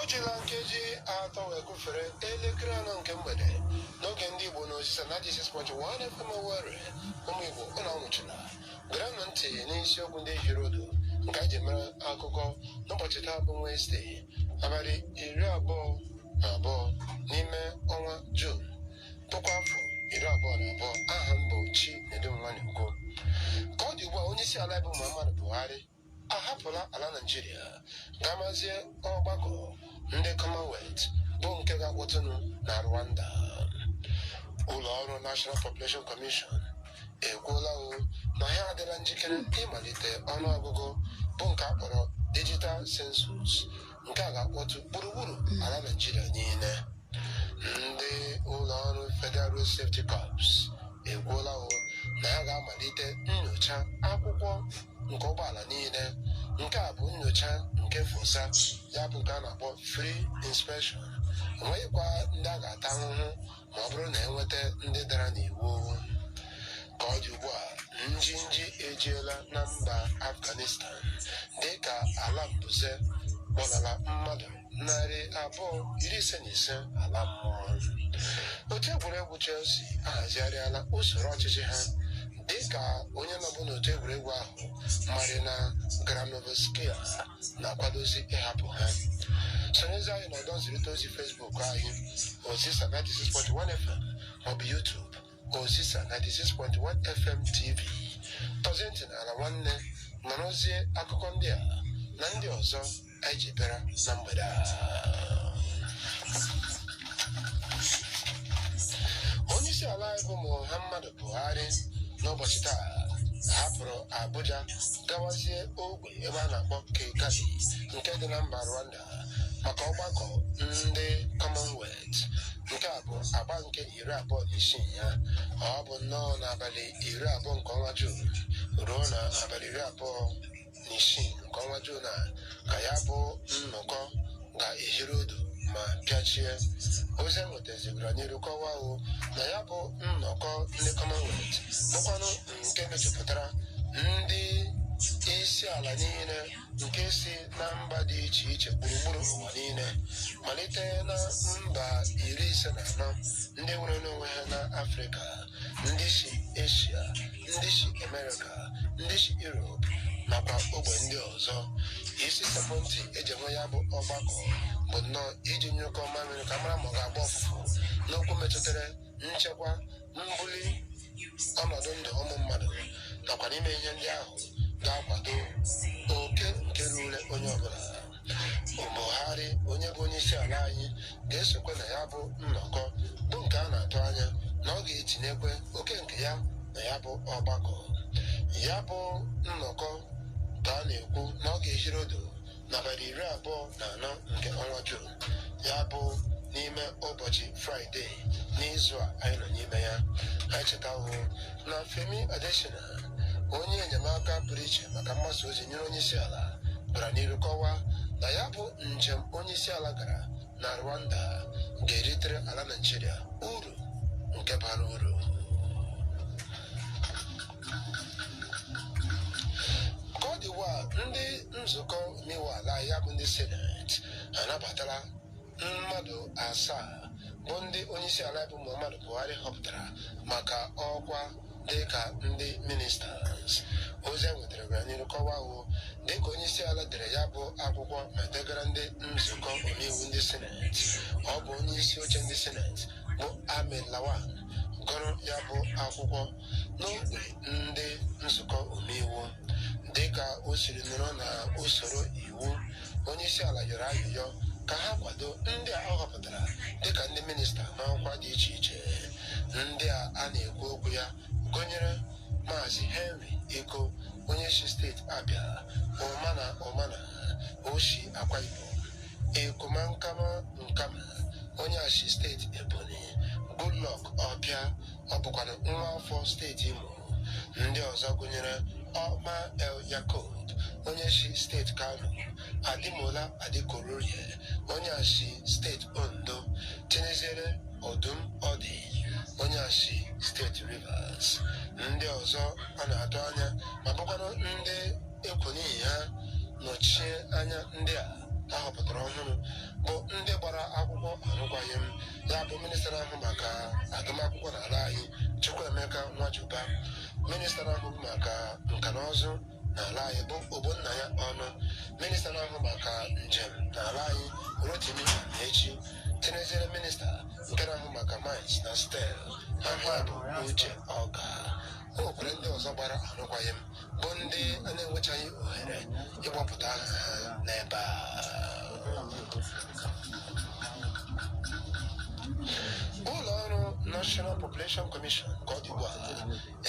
o jila nkeji atọ wee gụfere elekere anọ nke mgbede n'oge ndị igbo na Ozisa 96.1 FM Owerri ụmụ igbo ụnụ anwụchuna gerenụ ntị n'isiokwu ndị hiri odo nke anyị ji mere akụkọ n'ụbọchị taa bụ Wenesde abalị iri abụọ na abụọ n'ime ọnwa Jun puku afọ iri abụọ na abụọ aha m bụ Chinedum Nwanigbo ka ọ dị ugbu a onye isi ala bụ Muhammadu Buhari ahapụla ala Naịjirịa gamazie ọgbakọ ndị Commonwealth bụ nke ga-akpọtụnụ na Rwanda. Ụlọ ọrụ National Population Commission ekwuola o na ha adịla njikere ịmalite ọnụọgụgụ bụ nke a kpọrọ digital census nke a ga-akpọtụ gburugburu ala naịjirịa niile ndị ụlọ ọrụ federal road safety corps ekwuola o na ha ga-amalite nyocha akwụkwọ nke ụgbọala niile nke a bụ nyocha nke fosa ya bụ nke a na-akpọ free inspection enweghịkwa ndị a ga-ata ahụhụ ma ọ bụrụ na e nweta ndị dara n'iwu ka ọ dị ugbu a njinji ejiela na mba afghanistan dịka ala mbuze kpọlara mmadụ narị abụọ iri ise na ise ala mmụọ otu egwuregwu chelsea ahazigharịala usoro ọchịchị ha dịka onye nọbụ n'otu egwuregwu ahụ marina granovskaia na-akwadozi ịhapụ ha sonyezi anyị na ọdọ nzirịta ozi facebook anyị Ozisa 96.1 FM maọbụ YouTube Ozisa 96.1 FM TV tọzie ntị n'ala nwanne nụrụzie akụkọ ndị a na ndị ọzọ anyị ji bịara na mgbede a onyeisi ala anyị bụ Muhammadu Buhari n'ụbọchị taa hapụrụ Abuja gawazie ogbe ebe a na-akpọ Kigali nke dị na mba Rwanda maka ọgbakọ ndị Commonwealth nke a bụ agba nke iri abụọ na isii ya ọ bụ nnọọ n'abalị iri abụọ nke ọnwa Jun ruo na abalị iri abụọ na isii nke ọnwa Jun a ka ya bụ nnọkọ ga-ehiri odo ma pịachie ozi e nwetazi gara n'iru kọwaa o na ya bụ nnọkọ ndị Commonwealth bụkwanụ nke mejupụtara ndị isi ala niile nke si na mba dị iche iche gburugburu ụwa niile malite na mba iri ise na anọ ndị nwere n'onwe ha na afrịka ndị si eshia ndị si amerịka ndị si europe nakwa ogbe ndị ọzọ isi sekpụ ntị e ji enwe ya bụ ọgbakọ bụ nnọọ iji nyụkọ mamịrị ka a mara ma ọ ga-agba ụfụfụ n'okwu metụtara nchekwa mbuli ọnọdụ ndụ ụmụ mmadụ nakwa n'ime ihe ndị ahụ ga-akwado oke nke ruru onye ọbụla Buhari onye bụ onye isi ala anyị ga-esokwe na ya bụ nnọkọ bụ nke a na-atụ anya na ọ ga-etinyekwe oke nke ya na ya bụ ọgbakọ ya bụ nnọkọ ka a na-ekwu na ọ ga-ehiri odo n'abalị iri abụọ na anọ nke ọnwa Jun ya bụ n'ime ụbọchị Fraịde n'izu a anyị nọ n'ime ya anyị chetawo na Femi Adesina onye enyemaka pụrụ iche maka mgbasa ozi nyere onye isi ala gara n'iru kọwaa na ya bụ njem onye isi ala gara na Rwanda ga-eritere ala Naịjirịa uru nke bara uru ka ọ dị ugbu a ndị nzukọ omeiwu ala ya bụ ndị seneti anabatala mmadụ asaa bụ ndị onyeisi ala bụ muhammadu buhari họpụtara maka ọkwa dịka ndị ministers ozi e nwetara gara n'iru kọwaa o dịka onyeisi ala dere ya bụ akwụkwọ ma degara ndị nzukọ omeiwu ndị seneti ọ bụ onyeisi oche ndị seneti bụ ahmed lawan gụrụ ya bụ akwụkwọ n'okpuru ndị nzukọ omeiwu dịka o siri nọrọ na usoro iwu onyeisiala yọrọ ayịyọ ka ha kwado ndị a ọ họpụtara dịka ndị minista n'ọkwa dị iche iche ndị a a na-ekwu okwu ya gụnyere maazị henry ikoh onye si steeti abịa umana umana o si akwa ibom ekumankama onye a si steeti Ebonyi Goodluck Opiah ọ bụkwanụ nwa afọ steeti Imo ndị ọzọ gụnyere Umar El Yakub onye si steeti Kano Ademola Adegoroye onye a si steeti Ondo tinyeziere Odum Udi onye a si steeti Rivers ndị ọzọ a na-atụ anya ma bụkwara ndị e kwo n'ihi ha nọchie anya ndị a a họpụtara ọhụrụ bụ ndị gbara akwụkwọ arụkwaghị m ya bụ minista na-ahụ maka agụmakwụkwọ n'ala anyị Chukwuemeka Nwajiuba minista na-ahụ maka nka na ụzụ n'ala anyị bụ Ogbonnaya Ọnụ minista na-ahụ maka njem n'ala anyị Rotimi Amaechi tinyezere minista nke na-ahụ maka mines na steel aha bụ Uche Ogah o nwekwara ndị ọzọ gbara arụkwaghị m bụ ndị a na-enwechaghị ohere ịgbapụta aha ha n'ebe a ụlọ ọrụ National Population Commission ka ọ dị ugbu a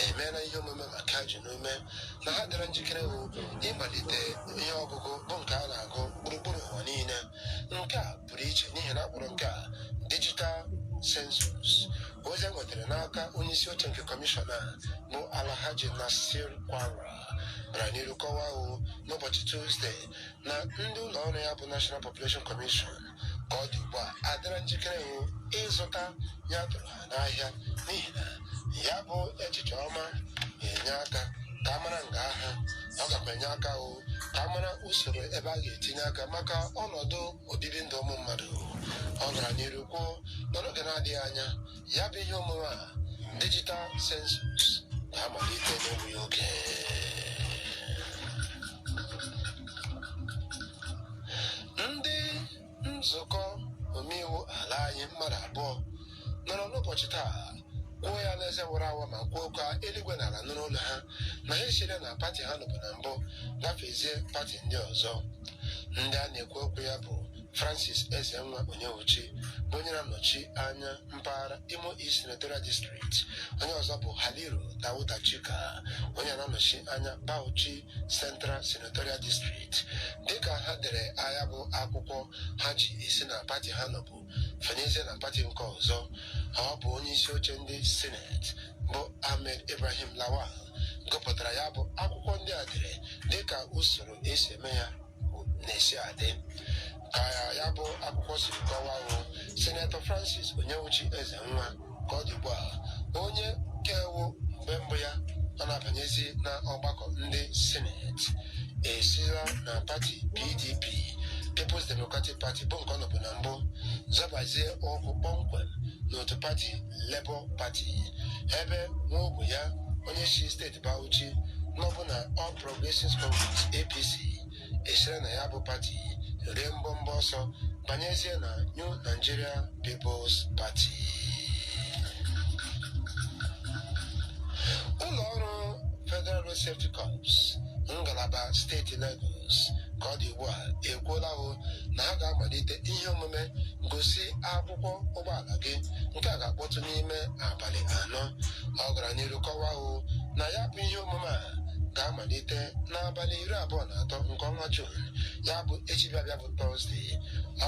emeela ihe omume maka ji n'ume na ha dịra njikere ịmalite ihe ọgụgụ bụ nke a na-agụ gburugburu ụwa niile nke a pụrụ iche n'ihi na a kpọrọ nke a digital census ozi e nwetara n'aka onye isi oche nke kọmishọn a bụ Alhaji Nasir Kwarra gara n'iru kọwaa hụ n'ụbọchị tuzde na ndị ụlọ ọrụ ya bụ National Population Commission ka ọ dị ugbu a adịra njikere hụ ịzụta ihe a tụrụ n'ahịa n'ihi na ya bụ echiche ọma na-enye aka ka a mara nga a ha ọ gakwa enye aka o ka a mara usoro ebe a ga-etinye aka maka ọnọdụ obibi ndụ ụmụ mmadụ ọ gara n'iru kwuo na n'oge na-adịghị anya ya bụ ihe omume a digital census ga-amalite n'egbughị oge nzukọ omeiwu ala anyị mmadụ abụọ nọrọ n'ụbọchị taa kwuo ya n'eze wara awa ma kwuo ka eluigwe na ala nụrụ olu ha na ha esire na pati ha nọbu na mbụ gafezie pati ndị ọzọ ndị a na-ekwu okwu ya bụ francis ezenwa onyewuchi bụ onye na-anọchi anya mpaghara Imo East Senatorial District onye ọzọ bụ Haliru Dauda Jika onye na-anọchi anya Bauchi Central Senatorial District dịka ha dere ya bụ akwụkwọ ha ji esi na pati ha nọbu fenyezie na pati nke ọzọ ọ bụ onye isi oche ndị sineti bụ Ahmed Ibrahim Lawan gụpụtara ya bụ akwụkwọ ndị a dere dịka usoro e si eme ya na-esi adị ka ya bụ akwụkwọ siri kọwaa hụ sinetọ francis onyewuchi ezenwa ka ọ dị ugbu a onye nke wụ mgbe mbụ ya ọ na-abanyezi na ọgbakọ ndị sineti esila na pati pdp peoples democratic party bụ nke ọ nọbu na mbụ zọbazie ụkwụ kpọmkwem n'otu pati labour party ebe nwa ogbe ya onye si steeti bauchi nọbu na all pro Progressive Congress APC esire na ya bụ pati rie mbọmbọ ọsọ banyezie na New Nigeria People's Party ụlọ ọrụ Federal Road Safety Corps ngalaba steeti Lagos ka ọ dị ugbu a ekwuola hụ na ha ga-amalite ihe omume gosi akwụkwọ ụgbọala gị nke a ga-akpọtụ n'ime abalị anọ ọ gara n'iru kọwaa hụ na ya bụ ihe omume a ga-amalite n'abalị iri abụọ na atọ nke ọnwa Juun ya bụ echi bịabịa bụ Tọzdee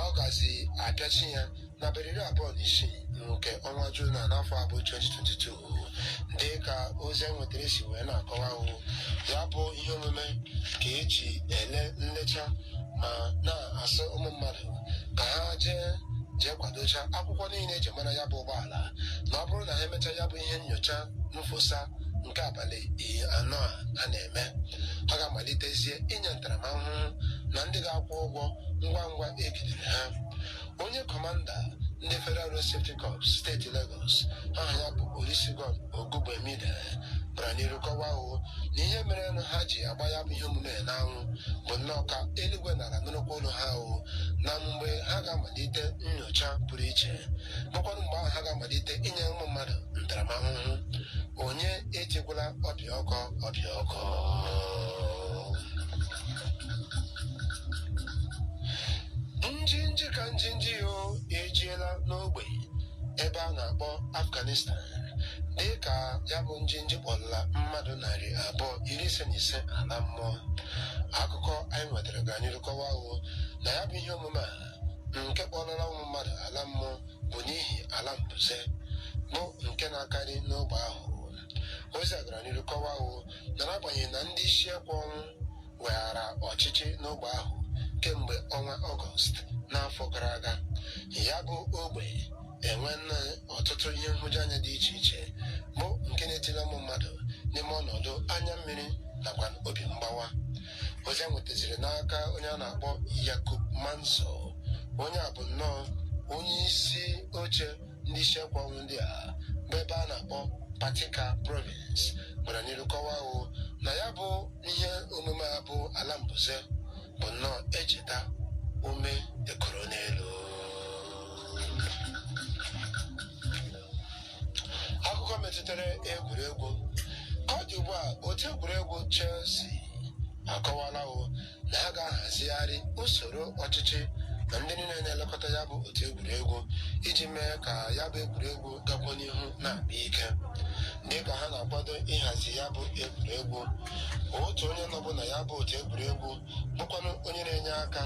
ọ gazi apịachi ya n'abalị iri abụọ na isii nke ọnwa Juun na n'afọ a bụ 2022 dị ka ozi anyị nwetara si wee na-akọwa hụ ya bụ ihe omume ka e ji ele nlecha ma na-asị ụmụ mmadụ ka ha jee jee kwadocha akwụkwọ niile e ji mara ya bụ ụgbọala na ọ bụrụ na ha emechaa ya bụ ihe nyocha mfosa nke abalị anọ a a na-eme ha ga-amalitezie inye ntaramahụhụ na ndị ga-akwụ ụgwọ ngwa ngwa egidere ha onye kọmanda ndị federal road safety corps steeti lagos aha ya bụ olusegun ogungbemide gara n'iru kọwaa o na ihe merenụ ha ji agba ya bụ ihe omume n'anwụ bụ nnọọ ka eluigwe na ala nụrụkwa olu ha o na mgbe ha ga-amalite nyocha pụrụ iche bụkwanụ mgbe ahụ ha ga-amalite inye ụmụ mmadụ ntaramahụhụ onye etikwala ọbịa ọkọ ọbịa ọkọ njinji ka njinji o ejiela n'ogbe ebe a na-akpọ afghanistan dị ka ya bụ njinji kpọrọla mmadụ narị abụọ iri ise na ise ala mmụọ akụkọ anyị nwetara gara n'iru kọwaa o na ya bụ ihe omume a nke kpọrọla ụmụ mmadụ ala mmụọ bụ n'ihi ala mbuze bụ nke na-akarị n'ogbe ahụ ozi a gara n'iru kọwaa o na n'agbanyeghị na ndị isi ekwe ọnwụ weghara ọchịchị n'ogbe ahụ kemgbe ọnwa ọgọst n'afọ gara aga ya bụ ogbe enwena ọtụtụ ihe nhụjuanya dị iche iche bụ nke na-etila ụmụ mmadụ n'ime ọnọdụ anya mmiri nakwa obi mgbawa ozi a nwetaziri n'aka onye a na-akpọ yakub manso onye a bụ nnọọ onye isi oche ndị isi ekwe ọnwụ ndị a bụ ebe a na-akpọ paktika province gara n'iru kọwaa o na ya bụ ihe omume a bụ ala mbuze bụ nnọọ echeta ume ekoro n'elu akụkọ metụtara egwuregwu ka ọ dị ugbu a otu egwuregwu Chelsea akọwala o na ha ga-ahazigharị usoro ọchịchị na ndị niile na-elekọta ya bụ otu egwuregwu iji mee ka ya bụ egwuregwu gakwa n'ihu na-akpa ike dị ka ha na-akwado ịhazi ya bụ egwuregwu otu onye nọbụ na ya bụ otu egwuregwu bụkwanụ onye na-enye aka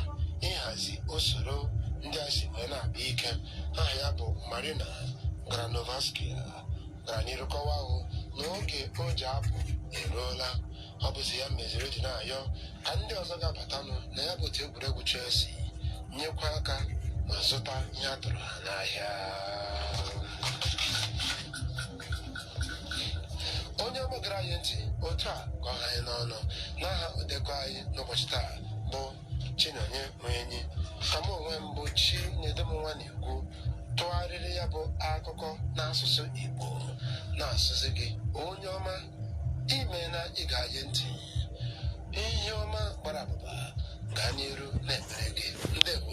ịhazi usoro ndị a si wee na-akpa ike aha ya bụ marina granovskaia gara n'iru kọwaa o na oge o ji apụ eruola ọ bụzi ya meziri o ji na-ayọ ka ndị ọzọ ga-abatanụ na ya bụ otu egwuregwu chelsea nyekwa aka ma zụta ihe a tụrụ ha n'ahịa onye ọma gara anyị ntị otu a ka ọ ha anyị n'ọnụ n'aha odekọ anyị n'ụbọchị taa bụ chinonye nwenyi ka m onwe m bụ chinedum onwa na ikwu tụgharịrị ya bụ akụkọ n'asụsụ igbo na-asịzi gị onye ọma imeena ịga anyị ntị ihe ọma gbara abụba gaa n'iru na-emere gị ndewo